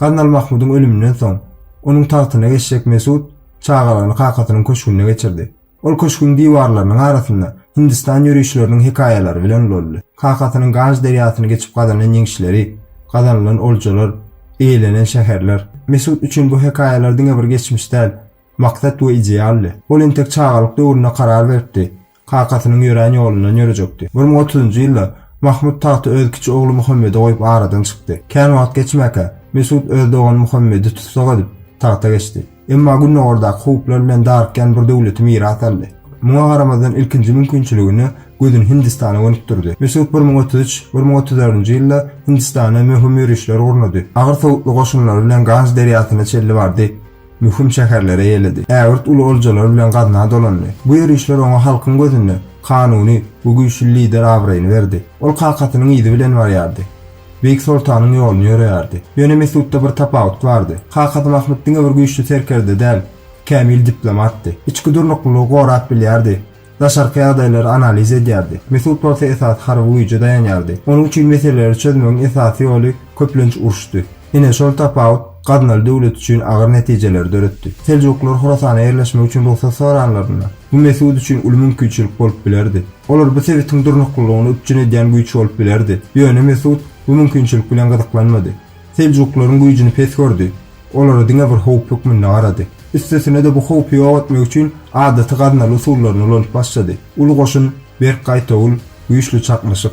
Gaznal Mahmudyň ölüminden soň, onuň tagtyna geçjek Mesut çagalygyny kakasynyň köşgünde geçirdi. Ol köşgüň diwarlarynyň arasynda Hindistan ýörişleriniň hekaýalary bilen ulaldy. Kakasynyň Ganj derýasyny geçip gazanan ýeňişleri, gazanylan oljalar, eýelenen şäherler. Mesut üçin bu hekaýalar diňe bir geçmiş däl, Maksat we idealdy. Ol entek çagalyk döwründe karar beripdi. Kakasynyň ýörän ýolundan ýörejekdi. Bir müň otuz njy ýylda Mahmut tagty öz kiçi ogly Muhammede goýup aradan çykdy. Kän wagt geçmäkä, Mesut öz dogany Muhammedi tussag edip, tagta geçdi. Emma gündogardaky howplar bilen darykýan bir döwleti miras aldy. Muňa garamazdan ilkinji mümkinçiligine gözüni Hindistana gönükdirdi. Mesut bir müň otuz üç, bir müň otuz dördünji ýylda Hindistana möhüm ýörişler gurnady. Agyr sowutly goşunlary bilen Ganj derýasyna çenli bardy. Möhüm şäherlere ýeledi. Ägirt uly oljalar bilen gazna dolandy. Bu ýörişler oňa halkyň gözünde kanuny we güýçli lider abraýyny berdi. Ol kakasynyň yzy bilen barýardy. Beýik soltanyň ýoluny ýöreýärdi. Ýöne Mesutda bir tapawut bardy. Kakasy Mahmyt diňe bir güýçli serkerde däl, kämil diplomatdy. Içki durnuklylygy gorap bilýärdi. Daşarky ýagdaýlary analiz edýärdi. Mesut bolsa esasy harby güýje daýanýardy. Onuň üçin meseleleri çözmegiň esasy ýoly, köplenç uruşdy. Ine, şol tapawut Gaznaly döwlet üçin agyr netijeleri döretdi. Seljuklylar Horasana ýerleşmek üçin rugsat soranlarynda, bu Mesut üçin uly mümkinçilik bolup bilerdi. Olar bu sebitiň durnuklylygyny üpjün edýän güýç bolup bilerdi. Ýöne Mesut bu mümkinçilik bilen gyzyklanmady. Seljuklaryň güýjüni pes gördi. Olara diňe bir howp hökmünde garady. Üstesine-de bu howpy ýok etmek üçin adaty gaznaly usullaryny ulanyp başlady. Uly goşun, berk gaýtawul, güýçli çaknyşyk.